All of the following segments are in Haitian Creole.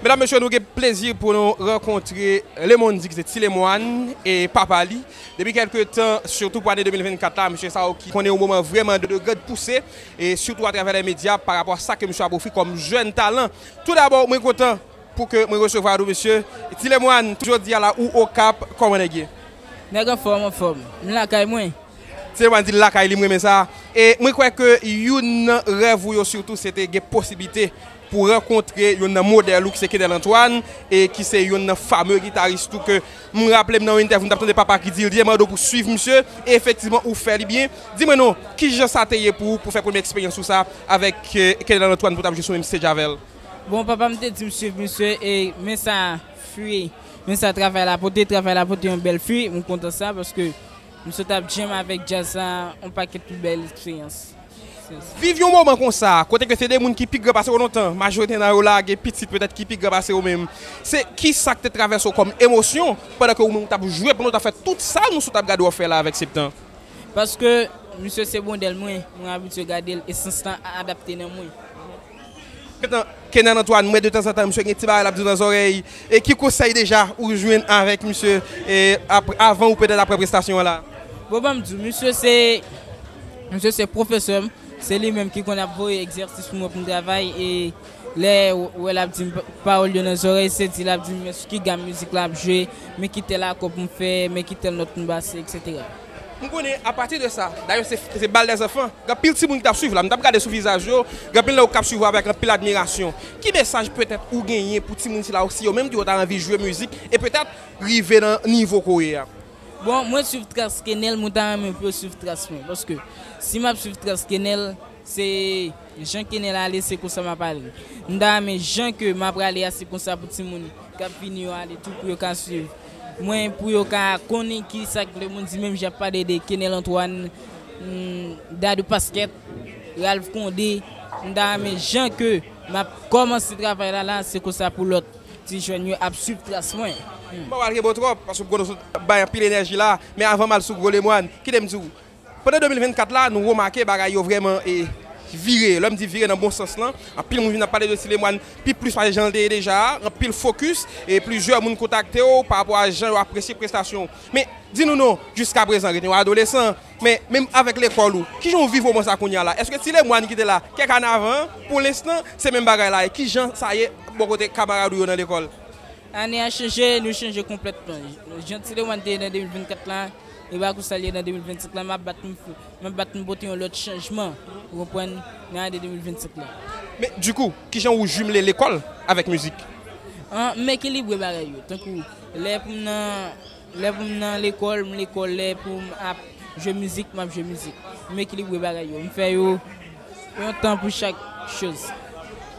Medam mesye nou gen plezi pou nou rankontre Lemondy ki se Ti Lemoine e papa li depi kelke tan sitou pou ane 2024 la mesye sa yo ki konnen yon moman vreman de grand pouse e sitou atravè lè medya pa rapò a sa ke mesye ap ofri kòm jèn talan tou dabò mwen kontan pou ke mwen resevwa nou mesye Ti Lemoine jodi a la ou Okap kòman nèg ye? Nèg anfòm anfòm m lakay mwen. Ti Lemoine di l lakay li m renmen sa e mwen kwè ke youn nan rèv ou yo sitou se te gen posiblite pou rankontre yonn nan modèl ou ki se Kenel Antoine e ki se yonn nan fame gitaris tou ke m raple m nan yon entèvyou m t ap tande papa ki di l di Edmado pou swiv misye e efektivman ou fè li byen di mwen non ki jan sa te ye pou ou pou fè premye eksperyans ou sa avèk Kenel Antoine pou w t ap jwe sou menm stage avè l? Bon papa m te di m swiv misye e men sa fwi men sa travay la pote travay la pote yon bèl fwi m kontan sa paske M sot ap jam avèk djaz la on pakèt pi bèl eksperyans. Viv yon moman konsa, kote ke se 2 moun ki pi gran pase ou lontan, majorite nan yo la gen pitit petèt ki pi gran pase ou menm, se kisa k te travèse ou kòm emosyon pandan ke ou menm ou t ap jwe pandan ou t ap fè tout sa nou sot ap gade w ap fè la avèk Septen? Paske misye se modèl mwen, mwen abitye gade l e sans lan adapte nan mwen. Kenan Antoine mwen de tanzantan misye gen ti bagay lap diw nan zòrèy e ki konsèy deja ou jwenn avèk misye avan ou petèt aprè prestasyon an la? Bon banm diw misye se misye se pwofesèm se li menm ki konn ap voye egzèsis pou mwen pou m travay e lè ou wè lap dim pawòl yo nan zòrèy se di lap dim men sou ki gam mizik la ap jwe men ki tèl akò pou m fè men ki tèl nòt pou m base etc. M konnen apati de sa, dayè se bal dè zanfan, gen anpil timoun ki t ap swiv la, m t ap gade sou vizaj yo, gen anpil nan yo k ap swiv ou avèk anpil admirasyon. Ki mesaj petèt ou genyen pou timoun sila yo si yo menm tou yo ta anvi jwe mizik e petèt rive nan nivo ke w ye a? Bon, mwen swiv tras Kenel, mwen ta renmen pou yo swiv tras mwen, paske si m ap swiv tras Kenel, se jan Kenel ale se konsa m ap ale. M ta renmen jan ke m aprale a se konsa pou timoun k ap vini yo ale tou pou yo ka swiv. Mwen pou yo ka konin ki sak le moun di menm jan pale de kenel antwan dadou pasket ralph konde m ta renmen jan ke map komanse travay la la se konsa pou lot ti jèn yo ap swiv tras mwen. Mpa pral kenbew trop paske mkonnen ou sot bay anpil enèji la men avanm al sou gwo lemwan kite m diw Pandan 2024 la, nou remake bagay yo vrèman vire. Lè m di vire nan bon sans lan, anpil moun vin ap pale de Ti Lemwàn pi plis pase jan l te ye deja a. Anpil fokis e plizyè moun kontakte w pa rapò a jan yo apresye prestasyon w. Men, di nou non, jiskaprezan, rete yon adolesan. Men, menm avèk lekòl ou, ki jan w viv moman sa kounye a la? Èske Ti Lemwàn ki te la kèk ane avan an, pou lenstan, se menm bagay la? E ki jan sa ye bò kote kamarad ou yo nan lekòl? Ane a chanje, nou chanje konplètman. Jan Ti Lemwàn te ye nan 2024 la, E baky sa l ye nan 2025 la map bat m fou map bat m pote yon lòt chanjman ou konprann nan ane 2025 la. Men di kou kijan ou jumele lekòl avèk mizik? An m ekilibre bagay yo tankou lè pou m nan lè pou m nan lekòl m lekòl lè pou m ap jwe mizik map jwe mizik m ekilibre bagay yo m fè yo Yon tan pou chak choz.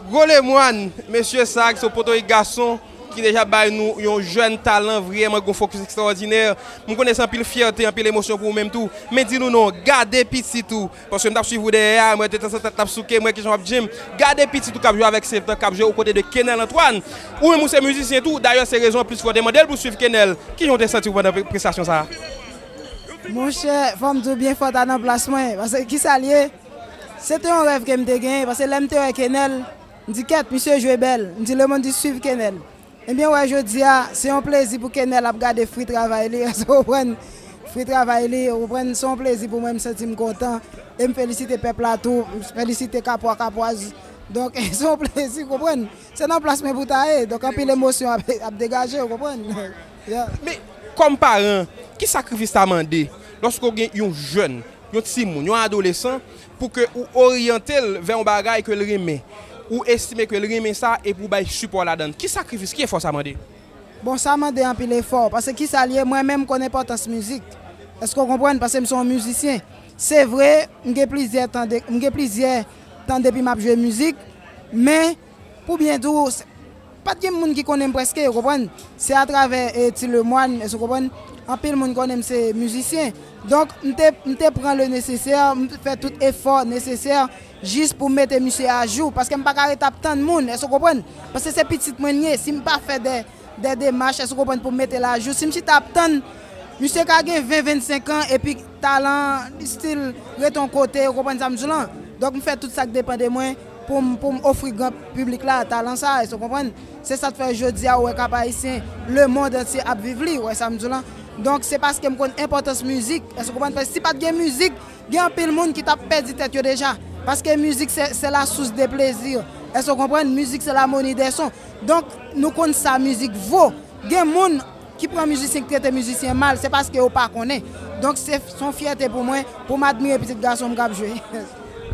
Gwo lemwann mesye sa ki se yon potorik gason ki deja bay nou yon jèn talan vryeman gon fokis ekstrawòdinè m konnen se anpil fyète anpil emosyon pou ou menm tou men di nou non gade pitit ou paske m tap swiv ou dèyè a m wè detanzantan tèt la ap souke m wè kijan wap jwenn gade pitit ou kap jwe avèk sevtan kap jwe okote de Kenel Antoine ou menm ou se mizisyen tou dayè se rezon anplis fè w te mandel pou swiv Kenel kijan w te santi w pandan prestasyon sa. Monchè, fò m di w byen fò ta nan plas mwen. Pase ki sa l ye? Se te yon rèv ke m te genyen. Pase lè m te wè Kenel, m di kèt, misye jwe bèl. M di lemonn di swiv Kenel. Ebyen wè jodi a, se yon plezi pou Kenel ap gade fri travay li. Èske w konprann? Fri travay li, ou konprann? Se yon plezi pou mwen, m santi m kontan. E m felisite pèp la tou. M felisite kapwa, kapwaz. Donk, se yon plezi, w konprann? Se nan plas mwen pou w ta ye. Donk anpil emosyon ap degaje, w konprann? Men, kòm paran, ki sakrifis sa mande lòske w gen yon jèn, yon timoun, yon adolesan, pou ke ou oryante l vè yon bagay ke l renmen, ou estime ke l renmen sa epi ou bay sipò ladan l? Ki sakrifis, ki efò sa mande? Bon, sa mande anpil efò, paske ki sa l ye, mwen menm m konn enpòtans mizik. Eske w konprann? Paske m se yon mizisyen. Se vre, m gen plizyè tan, m gen plizyè tan depi m ap jwe mizik, men. Pou byen di w, pa t gen moun ki konnen m prèske, ou konprann. Se atravè Ti Lemwàn, èske w konprann, anpil moun konnen m se mizisyen. Donk, m te, m te pran le nesesè, m te fè tout efò nesesè jis pou m mete misye ajou. Paske m pa ka rete ap tann moun, èske w konprann. Paske se pitit mwen li ye. Si m pa fè dè, dè demach, èske w konprann, pou m mete l ajou. Si m chita ap tann, misye ka gen ven, vennsenk an, epi talan an, li stil rete yon kote, ou konprann sa m di w lan. Donk, m fè tout sa k depan de mwen. Pou m pou m ofri gran piblik la talan sa a, èske w konprann? Se sa k fè jodi a ou wè Cap Haïtien, lemond antye ap viv li, ou wè sa m di w lan? Donk se paske m konn enpòtans mizik, èske w konprann? Paske si pa t gen mizik, gen anpil moun ki t ap pèdi tèt yo deja. Paske mizik se se la source de plaisir, èske w konprann? Mizik se l'harmonie des sons. Donk nou konn sa mizik vo. Gen moun. ki pran mizisyen ki trete mizisyen mal se paske yo pa konnen donk se son fyète pou mwen pou m admire pitit gason m k ap jwe.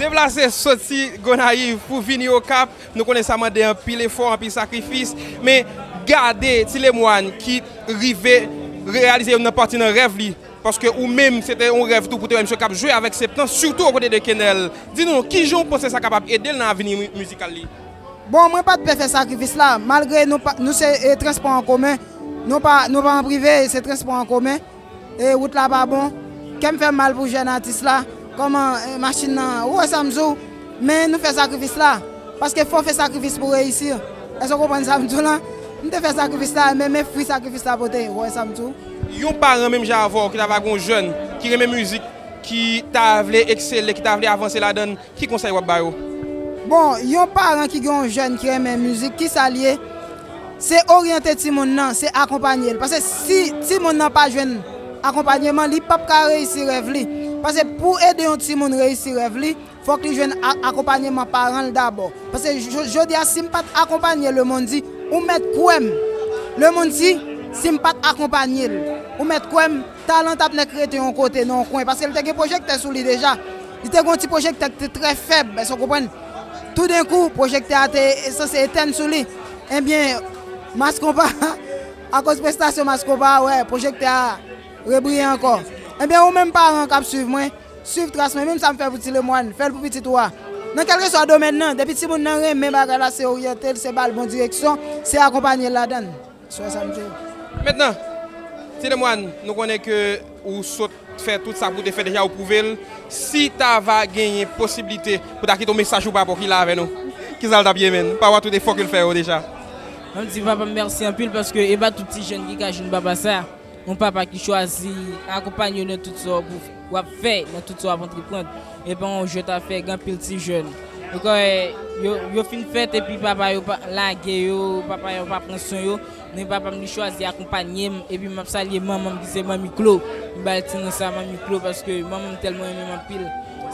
Deplase soti Gonayiv pou vini Okap, nou konnen sa mande anpil efò, anpil sakrifis, men gade Ti Lemwàn ki rive reyalize youn nan pati nan rèv li, paske ou menm se te yon rèv tou pou te wè misye k ap jwe avèk Septen, sitou okote de Kenel. Di nou, kijan ou panse sa kapab ede l nan avni mizikal li? Bon, mwen pa t pè fè sakrifis la, malgre nou se transpò an komen, nou pa an prive, se transpò an komen, e wout la pa bon. Kè m fè m mal pou jèn atis la, kòman machin nan, ou wè sa m di w? Men nou fè sakrifis la, paske fò w fè sakrifis pou w reyisi. Èske w konprann sa m di w la? M te fè sakrifis la, men men fwi sakrifis la pote, ou wè sa m di w? Yon paran menm jan avè w ki ta va gen yon jèn ki renmen mizik, ki ta vle eksele, ki ta vle avanse ladan l, Ki konsèy wap ba yo? Bon, yon paran ki gen yon jèn ki renmen mizik, ki sa l ye? Se oryante timoun nan, se akonpanye l. Pase si timoun nan pa jwenn akonpanyeman, li pap ka reyisi rèv li. Pase pou ede yon timoun reyisi rèv li, fòk li jwenn akonpanyeman paran l dabò. Pase jodi a si m pa t akonpanye Lemondy, ou mèt kwè m, Lemondy, si m pa t akonpanye l, ou mèt kwè m, Talan t ap nèk rete yon kote, nan yon kwen, paske li te gen pwojektè sou li deja. Li te gen yon ti pwojektè ki te trè fèb, èske w konprann? Toudenkou, pwojektè a te sanse etèn sou li. Ebyen, Mass Konpa, akoz prestasyon Mass Konpa a, wè, pwojektè a rebriye ankò. Ebyen, ou menm paran k ap suiv mwen, suiv tras mwen, menm sa m fè pou Ti Lemwàn, fè l pou pitit ou a. Nan kèlkeswa domèn nan, depi timoun nan renmen bagay la, se oryante l, se ba l bon direksyon, se akonpanye l ladan l. Swen sante. Mentnan, Ti Lemoine, nou konnen ke ou sot fè tout sa ke ou te fè deja, ou pwouve l. Si ta va genyen posiblite pou ta kite yon mesaj pou papa w ki la avè nou, kisa l t ap ye menn? Papa w a tout efò ke l fè yo deja. Mwen di papa m mèsi anpil paske e pa tout ti jenn ki ka jwenn papa sa. Yon papa ki chwazi akonpanye w nan tout sa w ap fè, nan tout sa w ap antreprand, e pa yon jwèt afè, gen anpil ti jèn, ou ka wè yo fin fèt epi papa yo lage yo, papa yo pa pran swen yo, men papa m li chwazi akonpanye m, epi m ap salye manman m ki se Manmi Klo, m bay ti non sa Manmi Klo paske manman m tèlman renmen m anpil,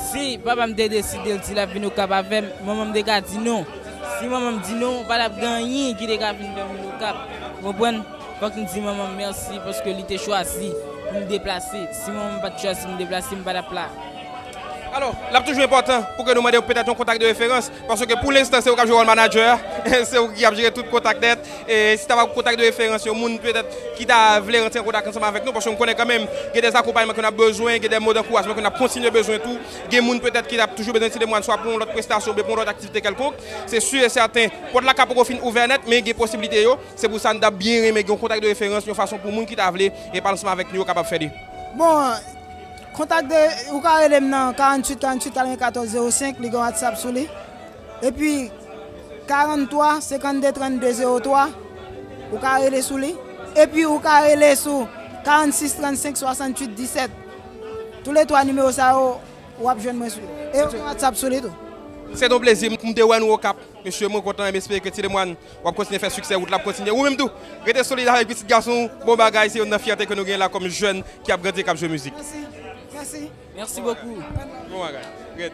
si papa m te deside l di l ap vin Okap avè m, manman m te ka di non, si manman m di non, pa t ap gen anyen ki te ka vin fè m vin Okap, ou konprann. Fòk m di manman m mèsi paske li te chwazi pou m deplase. Si manman m pa t chwazi pou m deplase, m pa t ap la. Alò, l ap toujou enpòtan pou ke nou mande petèt yon kontak de referans, paske pou lenstan se ou k ap jwe wòl manadjè a, se ou ki ap jere tout kontak nèt. E si ta va pou kontak de referans, yon moun petèt ki ta vle rantre an kontak ansanm avèk nou, paske m konnen kanmenm gen de akonpayman ke n ap bezwen, gen de mo dankourajman ke n ap kontinye bezwen tou, gen moun petèt ki ap toujou bezwen ti demwàl swa pou yon lòt prestasyon oubyen pou yon lòt aktivite kèlkonk, se si e sèten, pòt la ka poko fin ouvè nèt, men gen posiblite yo. Se pou sa n ta byen renmen gen yon kontak de referans yon fason pou moun ki ta vle e pale ansanm avèk nou yo kapab fè li. Bon, kontak de, ou ka rele m nan 48 48 94 05, li gen whatsapp sou li. Epi 43 52 32 03, ou ka rele sou li. Epi ou ka rele sou 46 35 68 17. Tou le 3 nimewo sa yo, ou ap jwenn mwen sou yo. E yo gen whatsapp sou li tou. Se te yon plezi pou m te wè nou Okap. Mesye, mwen kontan e m espere ke Ti Lemwàn. Wap kontinye fè siksè wout la ap kontinye ou menm tou rete solid avèk pitit gason ou bon bagay se youn nan fyète ke nou genyen la kòm jèn ki ap grandi e kap jwe mizik. Merci beaucoup. Bon bagay. Red.